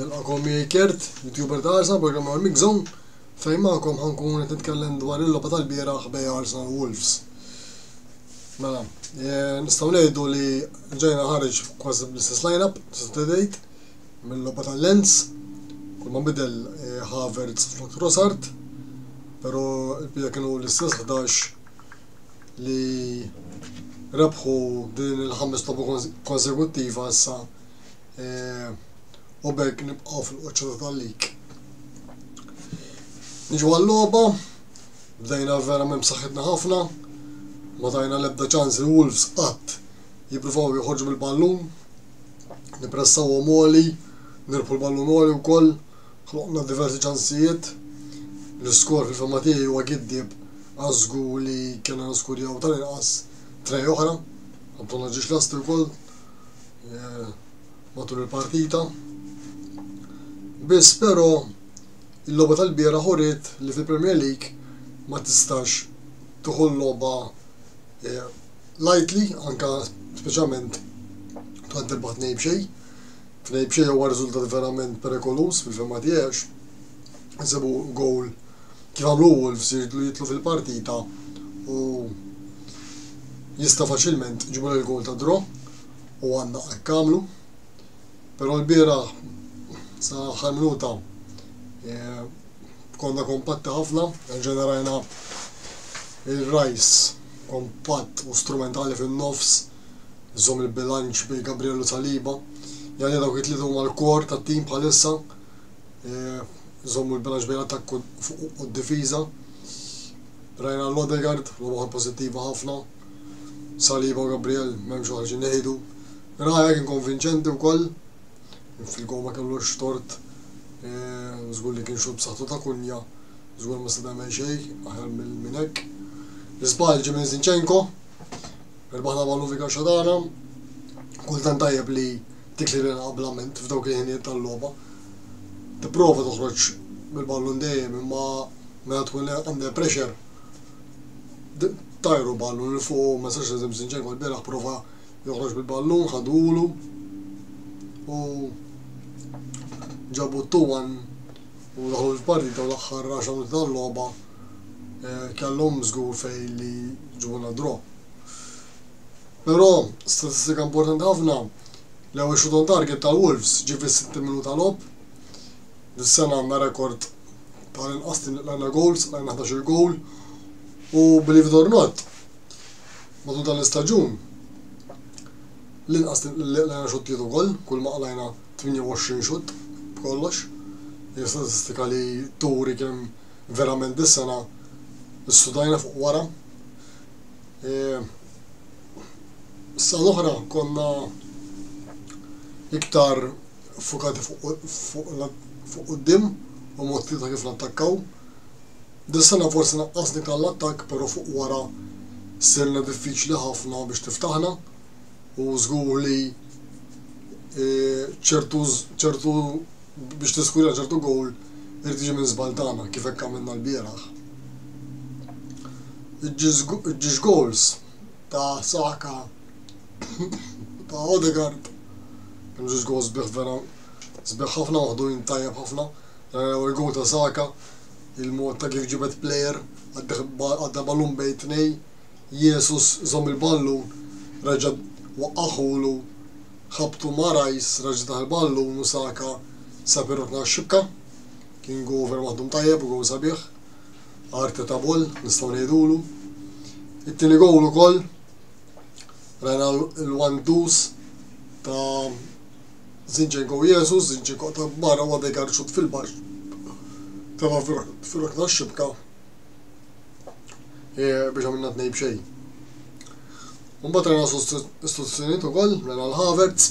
Nilqakom miegħi Kert, YouTuber ta' Arsenal, programm għal Mix Zone, fejn magħkom ħankun qed nitkellem dwar il-logħba tal-bieraħ bej Arsenal Wolves. Mela, eh, nistgħu ngħidu li ġejna ħareġ kważi bl-istess lineup, tista' tgħid, mill-logħba tal-Lens, kull ma bidel eh, Havertz flok Rosart, però il-bija kienu l-istess 11 li rebħu din il-ħames logħba konsekuttiva issa eh, u bekk nibqgħu fil-qoċċata tal-lig. Niġu għall-logħba, bdejna verament b'saħħitna ħafna, ma tajna l-ebda ċans li Wolves qatt jippruvaw joħorġu bil-ballun, nipressaw għom għoli, nirbħu l-ballun għoli wkoll. Ħloqna diversi ċansijiet. L-iskor fil-fehma tiegħi huwa giddieb għax żgur li kellna niskurjaw tal-inqas tray oħra. Anton ma ġiex lesti wkoll matul il-partita. Biss però il-logħba tal-bieraħ uriet li fil-Premier League ma tistax tieħu l-logħba lightly anke speċjalment tant tirbaħ tnejn b'xejn. Tnejn b'xejn huwa riżultat verament perikoluż fil-fehma tiegħi għax insibu gowl kif għamlu Wolves jridlu jidħlu fil-partita u jista' faċilment iġibulha l-gowl ta' draw u għandna hekk għamlu. Però l-bieraħ sa aħħar minuta eh, konna kompatti ħafna, ġenerajna il-rajs kompatt u strumentali fin-nofs Żomm il-bilanċ bejn Gabriel u Saliba. Jgħalija dawk it-tlieta huma l-core tat-tim bħalissa. Żommu l-bilanċ bejn l-attakk u d-difiża. Rajna l-Odegaard, l-oħra pożittiva ħafna. Saliba u Gabriel m'hemmx oħra xi ngħidu. Raya kien konvinċenti wkoll fil-gol ma kellux tort żgur li kien xogħol b'saħħtu ta' Kunja żgur ma se tagħmel xejn aħjar minn hekk. L-iżball ġie minn Zinchenko Irbaħ l-Aba Luvi Kaxxa tagħna. Kultant tajjeb li tikli lil qablament f'dawk il-ħinijiet tal-logħba. Tipprova toħroġ bil-ballun dejjem imma meta tkun under pressure tajru ballun il fuq ma sax eżem sinċen kol beraħ prova joħroġ bil-ballun ħadulu u ġabu t-tuwan u daħlu fil-partita u l-axħar raxa tal-loba kellhom żgur fejn li jġibulna draw. Però, statistika importanti ħafna, l-ewwel shoot on target tal-Wolves ġie fis-60 minuta logħob. Dis-sena għandna rekord tal-inqas li lqajna gowls, lqajna 11-il gowl. U believe it or not, matul dan l-istaġun, l-inqas li lqajna xuttijiet ukoll, kull ma qlajna 28 xutt b'kollox. Hija statistika li turi kemm Verament dis-sena studajna fuq wara. Is-sena l-oħra konna iktar fukati fuq quddiem u mod ta' kif nattakkaw. Dis-sena forsi naqqasni tal-attakk, però fuq wara sirna diffiċli ħafna biex tiftaħna. u żgur li ċertu ċertu biex tiskurja ċertu gowl irid jiġi minn żball tagħna kif hekk għamilna l-bieraħ. Iġġiex gowls ta' Saka ta' Odegaard kienu ġiex gowls sbieħ vera sbieħ ħafna waħdujn tajjeb ħafna. Il-gowl ta' Saka il-mod ta' kif ġibed plejer għadda balun bejn tnej. Jesus żomm il-ballun, reġa' waqqagħhulu, ħabbtu ma' Rice, reġa' daħal ballun u Saka sab ir-rokna għax-xibka. Kien goal vera maħdum tajjeb u goal sabiħ. Arteta boll, nistgħu ngħidulu. It-tieni goal ukoll rajna l-wandus ta' Zinchenko u Jesus, Zinchenko ta' barra u għadha jgarċut fil-baxx. Teba fil-rokna xibka e, biex għamilna tnej bxej. Mbagħad rajna sostituzzjonijiet ukoll rajna l-Havertz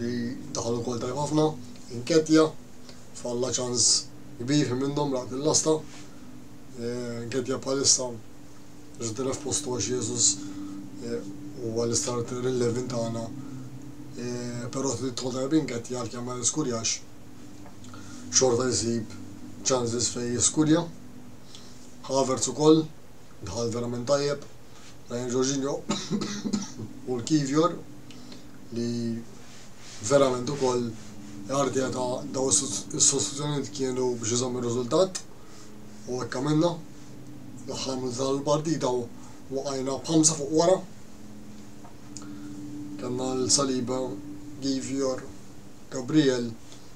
li daħal ukoll tajb ħafna, inketja, falla ċans kbir minnhom raqt il-lasta. E, inketja bħalissa ġdina f'postu għax Jezus e, u għal-istarter il-levin tagħna. E, però trid tħodha inketja għal kemm ma niskurjax xorta jsib chances fejn jiskurja. Havertz ukoll daħal verament tajjeb. Ryan Jorginho u l-Kivior li verament ukoll Arteta daw is-sostituzzjonijiet kienu biex iżomm ir-riżultat u hekk għamilna. L-aħħar minn dan il-partita waqajna b'ħamsa fuq wara. Kellna l-Saliba, Kivior, Gabriel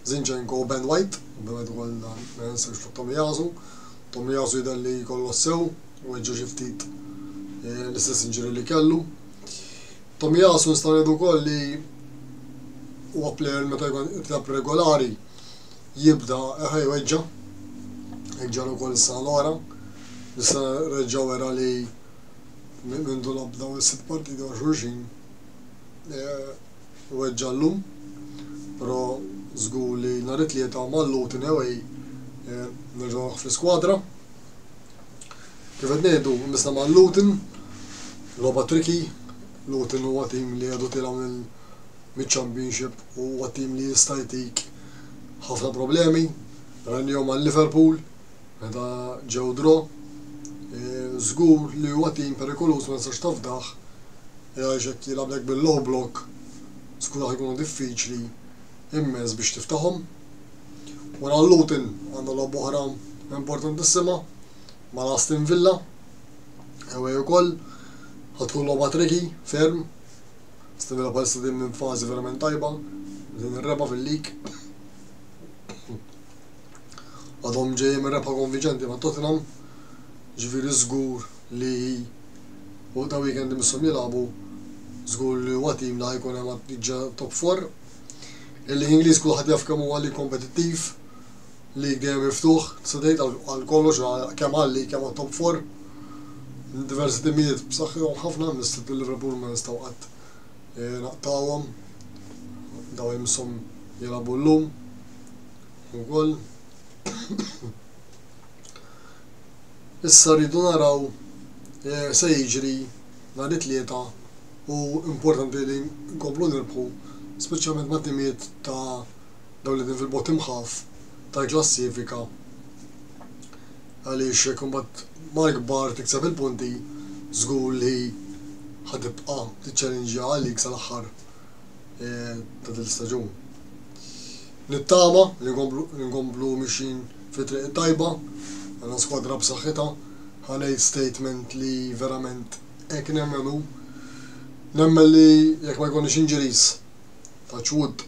Zinchenko u Ben White, ovvjament ukoll dan ma jħassirx fuq Tomiyasu. Tomiyasu jidher li kollox sew, weġġa' xi ftit l-istess injury li kellu. Tomiyasu nistgħu ngħidu wkoll li huwa plejer meta jkun itlab regolari jibda ħaj weġġa' hekk ġara wkoll is-sena l-oħra. Issa reġgħu wera li mindu labda u s-sitt partiti għal xulxin eh, weġġa' llum, però żgur li nhar it-Tlieta u mal-Luton away nerġa' noqgħod fl-iskwadra. Kif qed ngħidu, missna ma' Luton, logħba tricky, Luton huwa tim li għadu tiela' mill-Championship u huwa tim li jista' jtik ħafna problemi, rajniehom għal Liverpool. Meta ġew draw, żgur li huwa tim perikoluż ma nistax tafdah għaliex jekk jilgħablek bil-low block żgur raħ ikunu diffiċli immens biex tiftaħhom. Wara l-Luton għandna logħba oħra importantissima mal-Aston Villa, ewwel ukoll ħad tkun logħba triki ferm, Aston Villa bħalissa din minn fażi verament tajba, din ir-reba' fil-lig. għadhom ġejjin minn rebħa konvinċenti ma' Tottenham, ġifieri żgur li fuq da weekend imisshom jilagħbu, żgur li huwa tim li ħajkun hemm għat-tniġġa top four. Il-Lig Ingliż kulħadd jaf kemm huwa lig kompetittiv, lig dejjem miftuħ, tista' tgħid għal kollox kemm għal-lig kemm għat-top four. Diversi timijiet b'saħħithom ħafna, mis-City u Liverpool ma nistgħu qatt eh, naqtgħuhom. Dawn imisshom jilagħbu llum. Ukoll issa rridu naraw eh, se jiġri nhar it-tlieta u importanti li nkomplu nirbħu speċjalment ma' timiet ta' dawn li din fil-bot imħaf tal-klassifika għaliex kumbat mal-kbar tikseb il-punti żgur li ħatibqa' tiċċellinġja għalik sal-aħħar eh, ta' dil-staġun. Nittama li nkomplu li nkomplu mixjin fit-triq it-tajba. Għandna skwadra b'saħħitha. Ħa ngħid statement li verament hekk nemmen u nemmen li jekk ma jkollniex injuries, touch wood,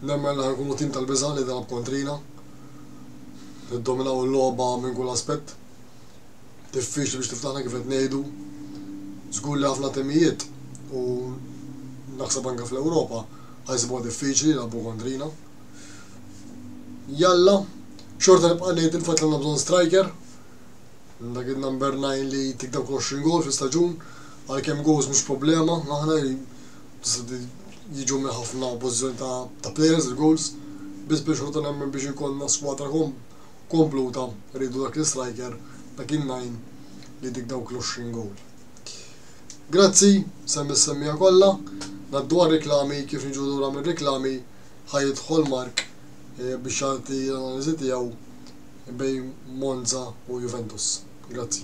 nemmen li ħa nkunu tim tal-biża' li jilgħab kontrina. Niddominaw il-logħba minn kull aspett. Diffiċli biex tiftaħna kif qed ngħidu. Żgur li ħafna timijiet u naħseb anke fl-Ewropa ħa jsibuha diffiċli jilagħbu kontrina. Jalla, xorta nibqa' ngħid il-fatt li għandna bżonn striker. Dak il-number 9 li tik dawk 20 gol fi staġun, għalkemm goals mhux problema, aħna jiġu minn ħafna pożizzjoni ta' players il-goals, biss biex xorta nemmen biex ikollna squadra kom kompluta rridu dak l-istriker ta' kien ngħin li jdik dawk l-għoxrin gowl. Grazzi, ser missemmija kollha, ngħaddu għar-riklami kif niġu lura mir-riklami ħa jidħol Mark biex jagħti l-analiżi tiegħu bejn Monza u Juventus. Grazzi.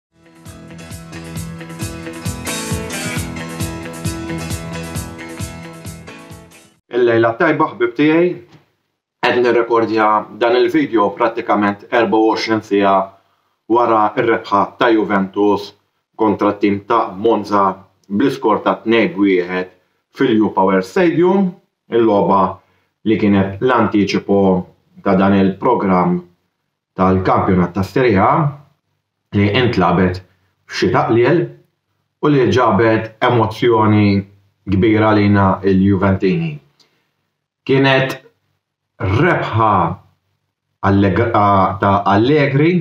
Il-lejla tajba ħbib tiegħi qed nirrekordja dan il-video prattikament 24 siegħa wara r-rebħa ta' Juventus kontra t-tim ta' Monza bl-iskor ta' 2-1 fil-U Power Stadium, il-logħba li kienet l-antiċipo ta' dan il-programm tal-kampjonat tas-Serie A li intlagħbet f'xita qliel u li ġabet emozzjoni kbira għalina l-Juventini. Kienet rebħa ta' Allegri,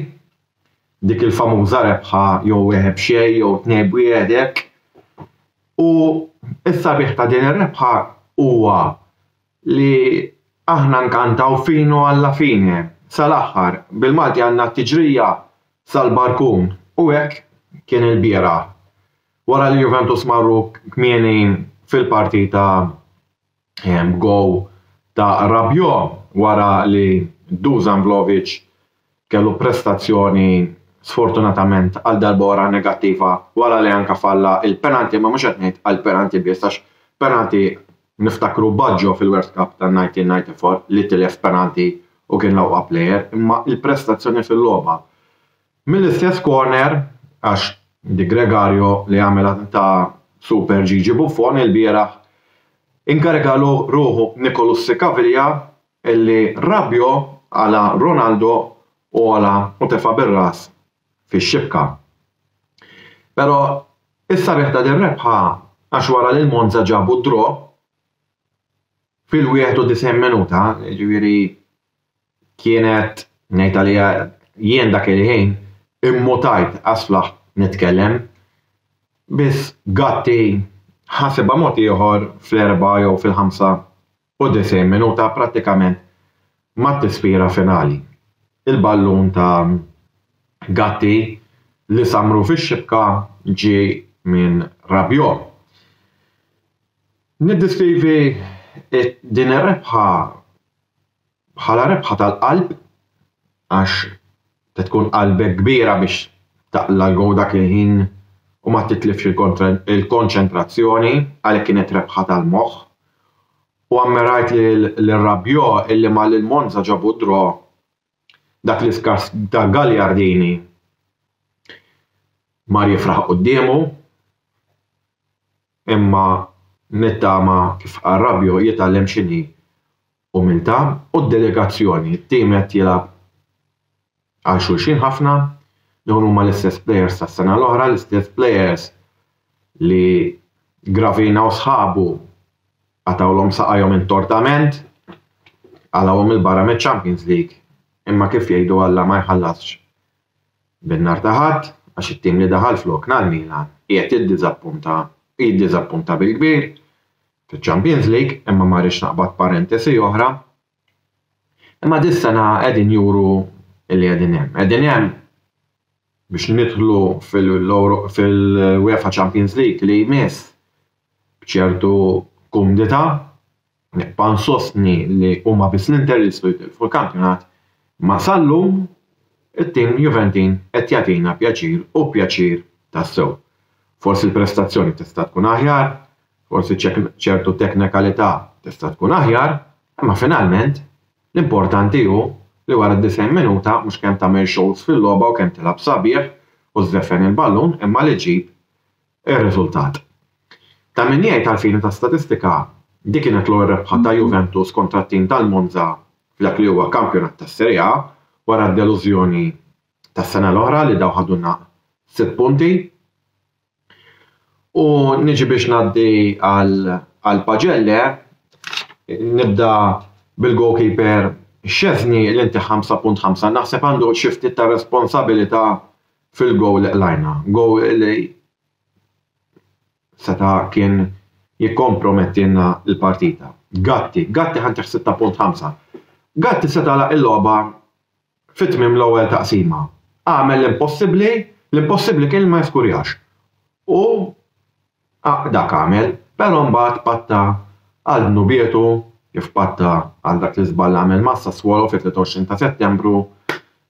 dik il-famuża rebħa jew wieħed b'xejn jew tnejn b'wieħed hekk u s-sabiħ ta' din ir-rebħa huwa li aħna nkantaw fino alla fine, sal-aħħar, bil-Malti għandna t-tiġrija sal-barkun u hekk kien il-bieraħ wara li Juventus marru kmieni fil-partita b'gowl ta' Rabiot wara li Dusan Vlahovic kellu prestazzjoni sfortunatament għal darba oħra negattiva wara li anke falla il-penalty imma mhux qed ngħid għal penalty biss għax penalty niftakru Baggio fil-World Cup tan-1994 li tilef penalty u kien l-aqwa plejer imma l-prestazzjoni fil-logħba. Mill-istess corner għax Di Gregario li għamilha ta' super Gigi Buffon ilbieraħ inkariga ruħu b'Nicolussi Caviglia Illi Rabiot għala Ronaldo u għola u tefa' bir-ras fix-xibka. Però is-sabiħ ta' din rebħa għax wara li l-Monza ġabu d-draw fil-91 minuta, jiġifieri kienet ngħid għaliha jien dak il-ħin immutajt għas-sflaħ nitkellem, biss Gatti ħasibha mod ieħor fl-erbgħa jew fil-ħamsa u 90 minuta prattikament mat-tispira finali. Il-ballun ta' Gatti li sammru fix-xibka ġie minn Rabiot. Niddiskrivi din ir-rebħa bħala rebħa tal-qalb għax Se tkun qalbek kbira biex taqla' l-gowl dak il-ħin u ma titlifx il-konċentrazzjoni, għalhekk kienet rebħa tal-moħħ. U ammirajt lil Rabiot illi malli l-Monza ġabu d-draw, dak l-iskart ta' Gagliardini mar jifraħ quddiemu, imma nittama kif qal Rabiot jitgħallem x'inhi Umiltà u delegazzjoni, it-tim qed jilgħab għal xulxin ħafna, dawn huma l-istess plejers tas-sena l-oħra, l-istess plejers li Gravina u sħabu qatgħulhom saqajhom intortament, qalgħuhom 'il barra miċ-Champions League, imma kif jgħidu Alla ma jħallasx bin-nar ta' ħadd għax it-tim li daħal flokna, l-Milan, qiegħed jiddiżappunta, jiddiżappunta bil-kbir, fiċ-Champions League imma ma rridx naqbad parentesi oħra. Imma dis-sena qegħdin juru li qegħdin hemm. Qegħdin hemm biex nidħlu fil-UEFA Champions League li jmiss b'ċertu kumdità nibqa' nsostni li huma biss l-Inter li jistgħu jitilfu l-kampjonat ma sal-lum it-tim Juventin qed jagħtina pjaċir u pjaċir tassew. Forsi l-prestazzjoni tista' tkun aħjar, Forsi ċertu teknikalità tista' tkun aħjar, imma finalment, l-importanti hu li wara d-90 minuta mhux kemm tagħmel xogħols fil-logħba u kemm tilgħab sabiħ u żżeffen il-ballun imma li ġġib ir-riżultat. Ta' min jgħid għall-fini ta' statistika, dik kienet l-ewwel rebħa ta' Juventus kontra t-tim tal-Monza f'dak li huwa kampjonat tas-Serie A wara d-delużjoni tas-sena l-oħra li dawn ħadu naq sitt punti. U niġi biex ngħaddi għal Pagelle, nibda bil-goalkeeper Szczesny li ntih 5.5, naħseb għandu xi ftit ta' responsabilità fil-gowl li qlajna, gowl li seta' kien jikkompromettilna l-partita. Gatti, Gatti ħa ntih 6.5, Gatti seta' għalaq il-logħba Fi tmiem l-ewwel taqsima, agħmel l-impossibbli, l-impossibbli kien li ma jiżgurjax. U dak għamel, però mbagħad patta għal dnubietu kif patta għal dak l-iżball li għamel ma' Sassuolo fit-23 ta' Settembru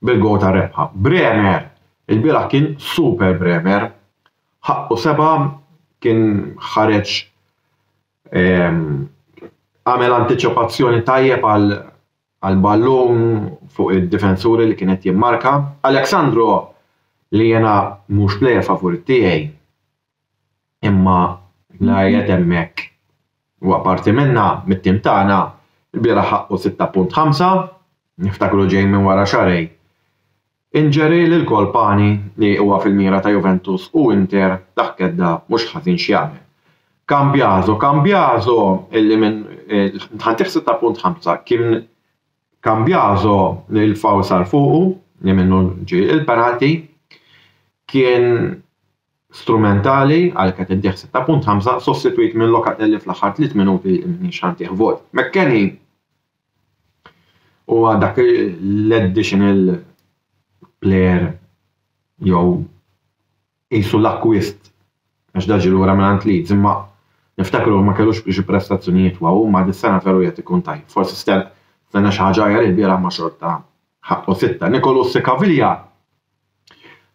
bil-gowl tar-rebħa. Bremer ilbieraħ kien super Bremer. Ħaqqu seba' kien ħareġ għamel antiċipazzjoni tajjeb għal Għal ballun fuq id-difensuri li kien qed jimmarka. Alex Sandro li jiena mhux plejer favorit tiegħi imma la qiegħed hemmhekk huwa parti minnha, mit-tim tagħna, ilbieraħ ħaqqu 6.5, niftakru ġej minn wara xarej Injury lilKole Pani li huwa fil-mira ta' Juventus u Inter dak kedda mhux ħażin x'jagħmel. Cambiaso, Cambiaso li minn tħaddih sitta punt ħamsa kien Cambiaso li l-foul sar fuqu li minnu ġie il-penalty kien strumentali għalhekk qed iddih sitta punt ħamsa sostitwit minn Locatelli fl-aħħar tliet minuti li m'iniex ħa ntih vot. McKennie U dak l-additional player jew qisu l-akkwist għax dan ġie lura mingħand Leeds imma niftakru ma kellux xi prestazzjonijiet waw imma dis-sena veru qed ikun tajjeb. Forsi stenna xi ħaġa aħjar ilbieraħ imma xorta ħaqqu sitta. Nicolosi Caviglia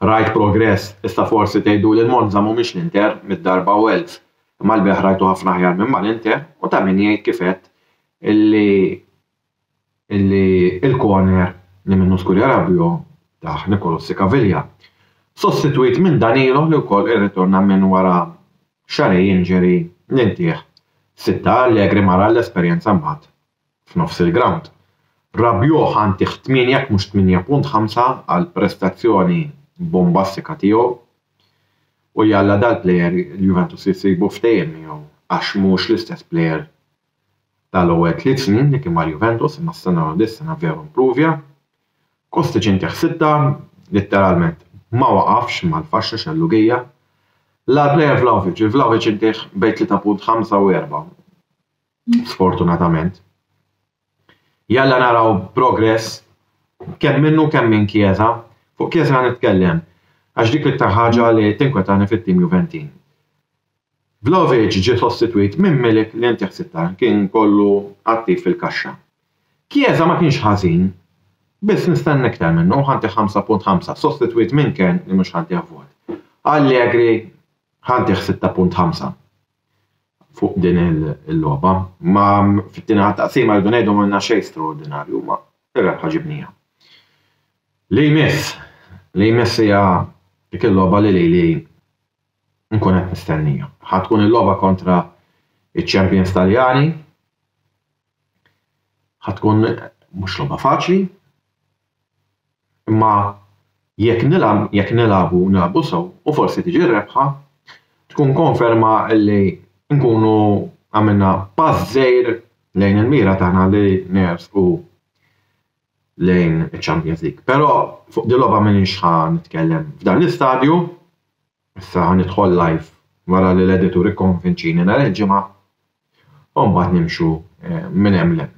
Rajt progress, issa forsi tgħiduli l-Monza mhumiex l-Inter mid-darba u elf, imma l-bejgħ rajtu ħafna aħjar minn mal-Inter u ta' min jgħid kif għedt illi illi il-corner li minnu Scuria Rabiot tah Nicolussi Caviglia, sostitwit minn Danilo li wkoll irritorna minn wara xarej injury li ntih sitta Allegri ma ra l-esperjenza mbagħad f'nofs il-grawnd. Rabiot ntih 8 jekk mhux 8.5 għall-prestazzjoni bombastika tiegħu u jalla dal-plejer il-Juventus jsibu ftehim miegħu għax mhux l-istess plejer tal-ewwel tliet snin li kien mal-Juventus imma stenna li dis-sena veru impruvja. Kostic ntih sitta, litteralment ma waqafx mal-faxxa xellugija. L-agħar plejer Vlahovic, lil Vlahovic ntih bejn 3.5 u 4. sfortunatament. Jalla naraw progress kemm minnu kemm minn Chiesa, fuq Chiesa nitkellem, għax dik l-iktar ħaġa li tinkwetani fit-tim Juventin. Vlahovic ġie sostitwit minn Milik li inti ħsibta kien kollu attiv fil-kaxxa. Chiesa ma kienx ħażin, biss nistenna iktar minnu u ħantih 5.5, sostitwit minn Kern li mhux ħantih vot. Allegri ħantih 6.5. fuq din il-logħba. Imma fit-tieni ħa taqsima rridu ngħidu m'għamilna xejn straordinarju, imma ir-rebħa ġibnieha. Li jmiss, li jmiss hija dik il-logħba li lili nkun qed nistennija. Ħa tkun il-logħba kontra ċ-champions Taljani, ħa tkun mhux logħba faċli, Imma jekk nilgħab, jekk nilgħabu u nilgħabu sew u forsi tiġi r-rebħa, tkun konferma li nkunu għamilna pass żgħir lejn il-mira tagħna li nersqu lejn iċ-Champions League. Però fuq din il-logħba m'iniex ħa nitkellem f'dan l-istadju, issa ħa nidħol live wara li l-editur ikkonvinċini nhar il-Ġimgħa u mbagħad nimxu minn hemm 'l hemm.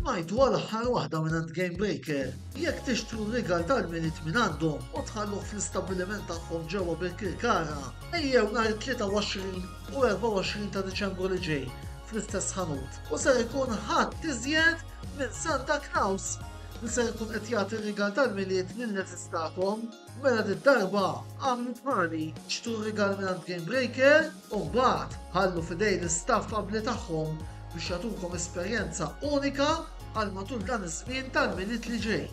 Smajtu għal aħħar waħda minn għand Game Breaker. Jekk tixtru rigal tal-minit minn għandhom u tħalluh fl-istabbiliment tagħhom ġewwa Birkirkara, ejjew nhar 23 u 24 ta' Diċembru li ġej fl-istess ħanut u ser ikun ħadd iżjed minn Santa Claus li ser ikun qed jagħti rigal tal-milied lil neżistakom mela darba għamlu bħali xtru rigal minn għand Game Breaker u mbagħad ħallu f'idejn l-istaff abbli tagħhom biex jagħtukom esperjenza unika għal matul dan iż-żmien tal-Milied li ġej.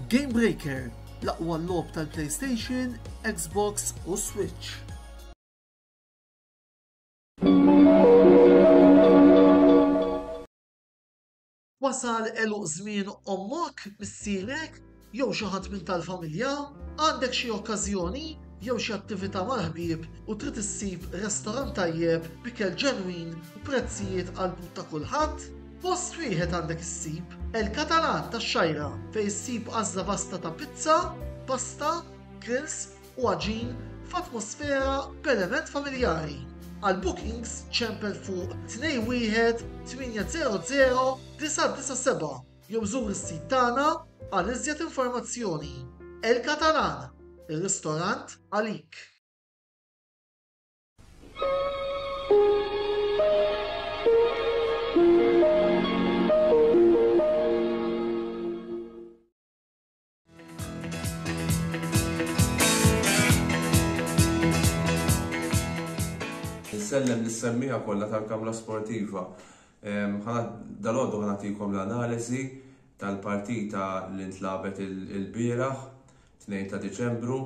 Game Breaker, l-aqwa logħob tal-PlayStation, Xbox u Switch. Wasal għeluq żmien ommok, missierek, jew xi ħadd minn tal-familja? Għandek xi okkażjoni jew xi attività mal-ħbieb u trid issib restorant tajjeb b'ikel ġenwin u prezzijiet għall-but ta' kulħadd? Post wieħed għandek issib, El Catalan tax-Xgħajra, fejn issib għażla vasta ta' pizza, pasta, grills, u għaġin f'atmosfera b'element familjari. Għal bookings ċempel fuq 21800-997 jew żur is-sit tagħna għal iżjed informazzjoni. El Catalan, ir-ristorant għalik! Insellem lis-semmiegħa kollha tal-Kamra Sportiva. Dalgħodu ħanatikom l-analiżi tal-partita li ntlabet il-bieraħ, 2 ta' Diċembru,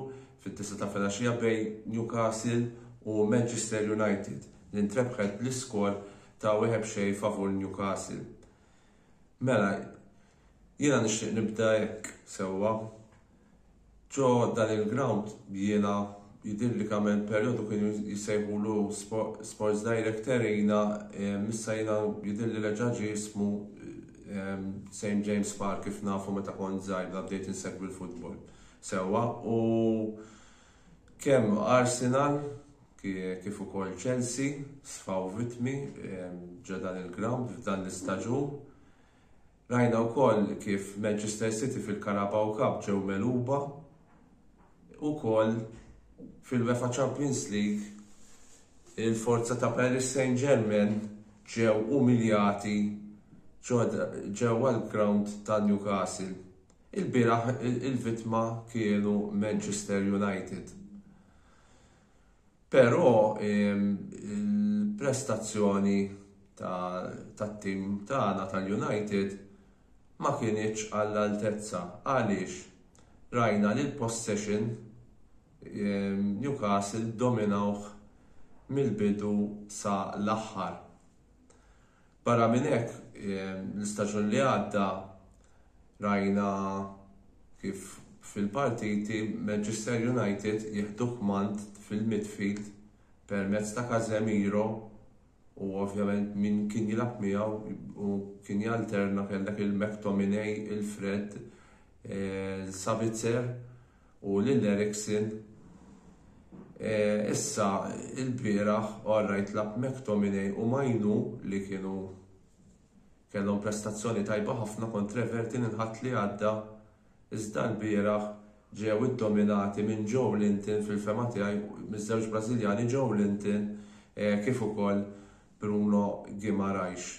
fit-tisa ta' filgħaxija bejn Newcastle u Manchester United li ntrebħet bl-iskor ta' wieħed xejn favur Newcastle. Mela, Jiena nixtieq nibda hekk sewwa. Ġo dan il-grawnd jiena jidhirli kemm hemm perjodu kienu jsejħulu Sports Direct Arena ehm issa jiena jidhirli reġa' ġie ismu ehm St James Park kif nafu meta kont żgħir meta bdejt insegwi l-futbol sewwa u kemm Arsenal kif ukoll Chelsea sfaw vittmi ehm ġo dan il-grawnd f'dan l-istaġun Rajna wkoll kif Manchester City fil-Carabao Cup ġew megħluba wkoll fil-UEFA Champions League il-forza ta' Paris Saint-Germain ġew umiljati ġewwa l-ground ta' Newcastle. Ilbieraħ il-vittma kienu Manchester United. Però il-prestazzjoni tat-tim tagħna tal-United ma kinitx għall-altezza. Għaliex? Rajna li l-possession Newcastle dominawh mill-bidu sa l-aħħar. Barra minn hekk, l-istaġun li għadda rajna kif fil-partiti Manchester United jieħdu kmand fil-midfield permezz ta' Casemiro u ovvjament min kien jilgħab miegħu u kien jalterna kellek il-McTominay, il-Fred, il-Sabitzer. U lil Eriksen, issa ilbieraħ orrajt lagħab McTominay u Mainoo li kienu kellhom prestazzjoni tajba ħafna kontra Everton il-Ħadd li għadda iżda lbieraħ ġew iddominati minn Joelinton fil-fehma tiegħi miż-żewġ Brażiljani Joelinton kif ukoll Bruno Guimaraes.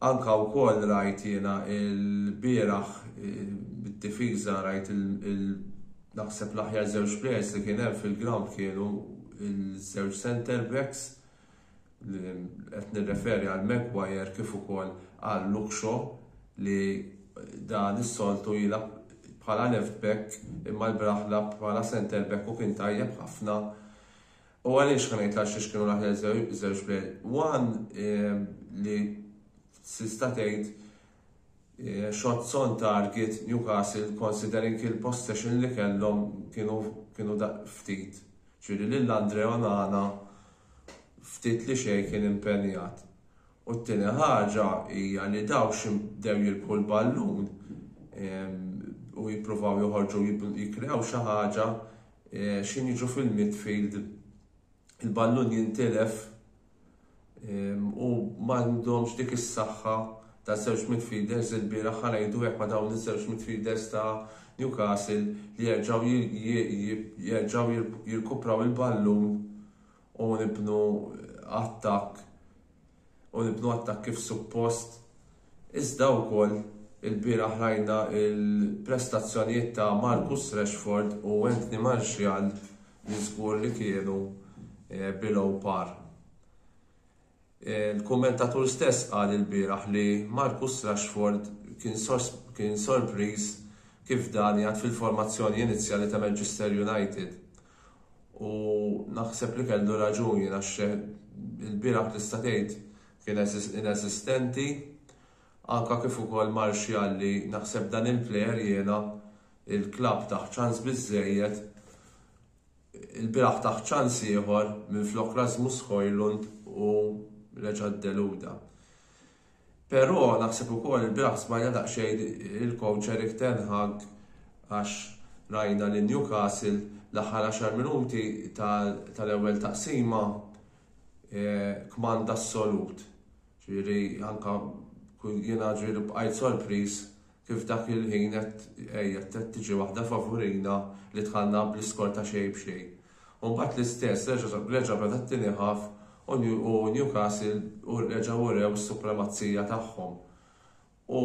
Anke wkoll rajt jiena l-bieraħ bid-difiża rajt naħseb l-aħjar żewġ players li kien hemm fil-ground kienu ż-żewġ centre backs li qed nirreferi għal Maguire kif ukoll għal Luke Shaw li dan is-soltu jilgħab bħala left back imma l-bieraħ lagħab bħala centre back u kien tajjeb ħafna U għaliex ħa ngħidlha xiex kienu l-aħjar żewġ plejers? Wan ehm, li sista tgħid eh, shot son target Newcastle considering il-possession li kellhom kienu kienu ftit. Ġifieri lil Andre Onana ftit li xejn kien impenjat. U t-tieni ħaġa hija li daw ximdew jilbħu l-ballun ehm, u jippruvaw joħorġu jikkrew xi ħaġa Eh, xi niġu fil-midfield il-ballun jintilef ehm, u m'għandhomx dik is-saħħa ta' żewġ midfielders il-bieraħ ħanajdu hekk ma' dawn iż-żewġ midfielders ta' Newcastle li jerġgħu jerġgħu jirkupraw il-ballun u nibnu attakk u nibnu attakk kif suppost, iżda wkoll ilbieraħ rajna l-prestazzjonijiet ta' Marcus Rashford u Anthony Martial li żgur li kienu below par. Il-kummentatur stess qal ilbieraħ li Marcus Rashford kien sorpriż kif dan qiegħed fil-formazzjoni inizjali ta' Manchester United U naħseb li kellu raġun jien għax ilbieraħ tista' tgħid kien inesistenti. Anke kif ukoll Martial li naħseb dan il-plejer jiena il-klabb tah ċans biżżejjed. Ilbieraħ tah ċans ieħor minflok Rasmus Hojlund u reġa' ddeluda. Peró naħseb ukoll ilbieraħ smajna daqsxejn il-kowċ Erik ten Hag għax rajna lil Newcastle l-aħħar għaxar minuti tal-ewwel taqsima kmand assolut. Ġifieri anke jiena ġifieri bqajt sorpriż Kif dak il-ħin qed għejet qed tiġi waħda favurina li tħallna bl-iskor ta' xejn b'xejn. U mbagħad l-istess reġa' beda t-tieni half u Newcastle reġgħu urew is-supremazija tagħhom. U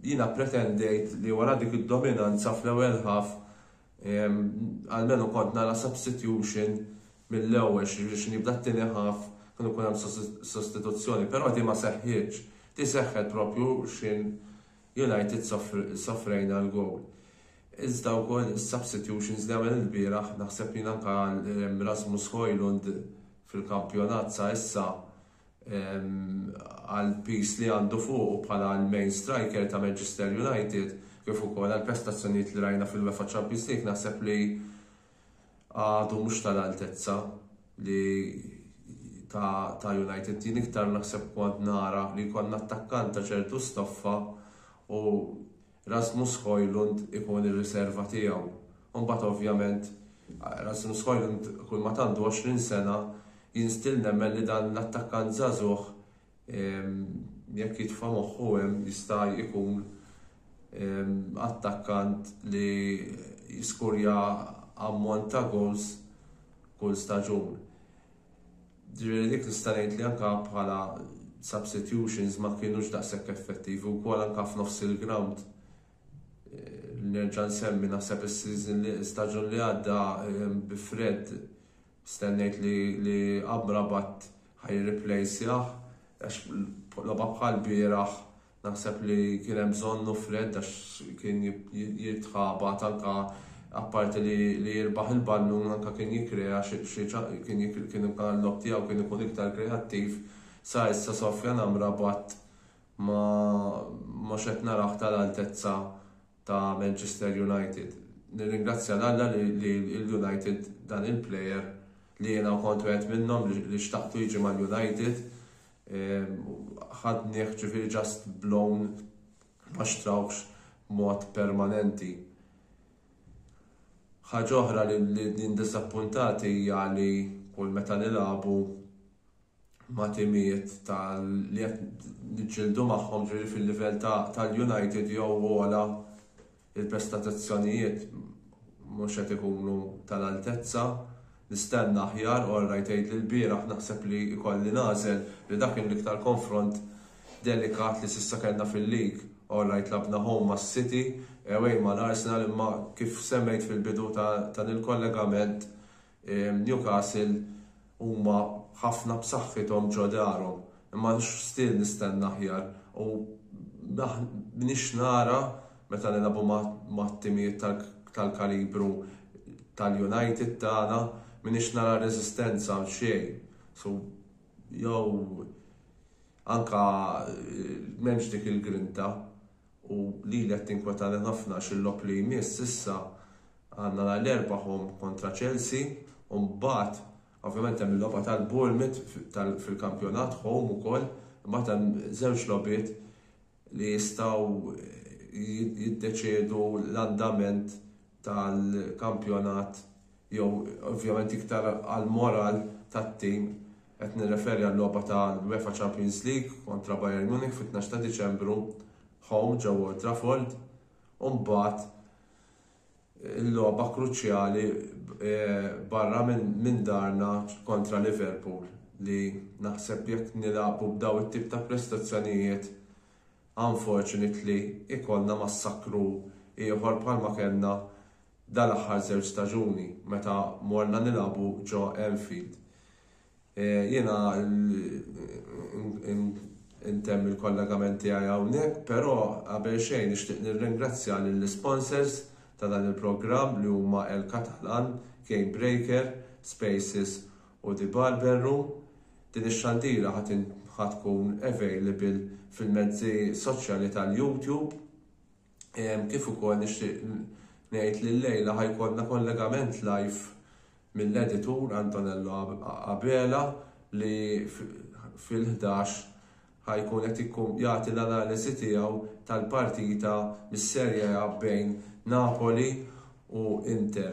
jiena pretendejt li wara dik id-dominanza fl-ewwel half Almenu kont nara substitution mill-ewwel, jiġifieri xi nibda t-tieni half kien ikun hemm sostituzzjoni, però din ma seħħietx. Din seħħet proprju x'ħin United sofrejna l-gowl. Iżda wkoll is-substitutions li għamel ilbieraħ naħseb jien anke Rasmus Hojlund fil-kampjonat sa issa, għall-piż li għandu fuqu bħala l-main striker ta' Manchester United kif ukoll għall-prestazzjonijiet li rajna fil-UEFA Champions League naħseb li għadu mhux tal-altezza li ta' ta' United. Jien iktar naħseb kont nara li jkollna attakkant ta' ċertu stoffa u Rasmus Hojlund ikun ir-riserva tiegħu. U mbagħad ovvjament Rasmus Hojlund kulma tant għandu 20 sena jien still nemmen li dan l-attakkant żagħżugħ jekk jitfa' moħħu hemm jista' jkun attakkant li jiskurja ammont ta' goals kull staġun. Jiġifieri dik nista' ngħid li anke bħala substitutions ma kinux daqshekk effettivi wkoll anke f'nofs il-grawnd. Nerġa' nsemmi naħseb is-season li staġun li għadda bi Fred stennejt li li Amrabat ħaj replaceah għax logħba bħal bieraħ Naħseb li kien hemm bżonnu Fred għax kien jitħabat anke apparti li jirbaħ il-ballun anke kien jikkrea xi kien kien l-logħob tiegħu kien ikun iktar kreattiv. Sa issa Sofjan Amrabat ma mhux qed narah tal-altezza ta' Manchester United. Nirringrazzja 'l Alla li l-United dan il-player li jiena kont wieħed minnhom li xtaqtu jiġi mal-United, ħadnieh ġifiri ġast blown ma xtrawx mod permanenti. Ħaġa oħra li din diżappuntat hija li kull meta nilagħbu ma' timijiet tal li qed niġġieldu magħhom ġifieri fil-livell tal-United jew għola Il-prestatazzjonijiet mhux qed ikunu tal-altezza. Nistenna aħjar u orrajt għidli lbieraħ naħseb li jkolli nagħżel li dak kien l-iktar konfront delikat li s'issa kellna fil-lig. Orrajt labna home mas-City, away mal-Arsenal imma kif semmejt fil-bidu ta' dan il-kollegament Newcastle huma ħafna b'saħħithom ġo darhom imma x'still nistenna aħjar u m'iniex nara meta nilagħbu ma' timijiet tal-kalibru tal-United tagħna m'iniex nara reżistenza għal xejn. So jew anke m'hemmx dik il-grinta u lili qed tinkwetani ħafna għax il-logħob li jmiss issa għandna nhar l-Erbgħa home kontra Chelsea u mbagħad ovvjament hemm il-logħba tal-Bournemouth fil-kampjonat home ukoll, imbagħad hemm żewġ logħbiet li jistgħu jiddeċiedu l-andament tal-kampjonat jew ovvjament iktar għall-moral tat-tim, qed nirreferi għal-logħba ta' l-UEFA Champions League kontra Bayern Munich fit-tnax ta' Diċembru home ġewwa Old Trafford u mbagħad il-logħba kruċjali barra minn darna kontra Liverpool li naħseb jekk nilagħbu b'dawn it-tip ta' prestazzjonijiet Unfortunately ikollna massakru ieħor bħalma kellna dal-aħħar żewġ staġuni meta morna nilagħbu ġo Anfield. Jiena ntemm il-kollegament tiegħi hawnhekk però qabel xejn nixtieq nirringrazzja lill-isponsors ta' dan il-programm li huma El Catalan, Gamebreaker, Spaces u The Barber Room. Din ix-xandira ħa tkun available fil-mezzi soċjali tal-YouTube. Kif ukoll nixtieq ngħid li llejla ħa jkollna kollegament live mill-editur Antonello Abela li fil-11 ħa jkun qed jagħti l-analiżi tiegħu tal-partita mis-Serie A bejn Napoli u Inter.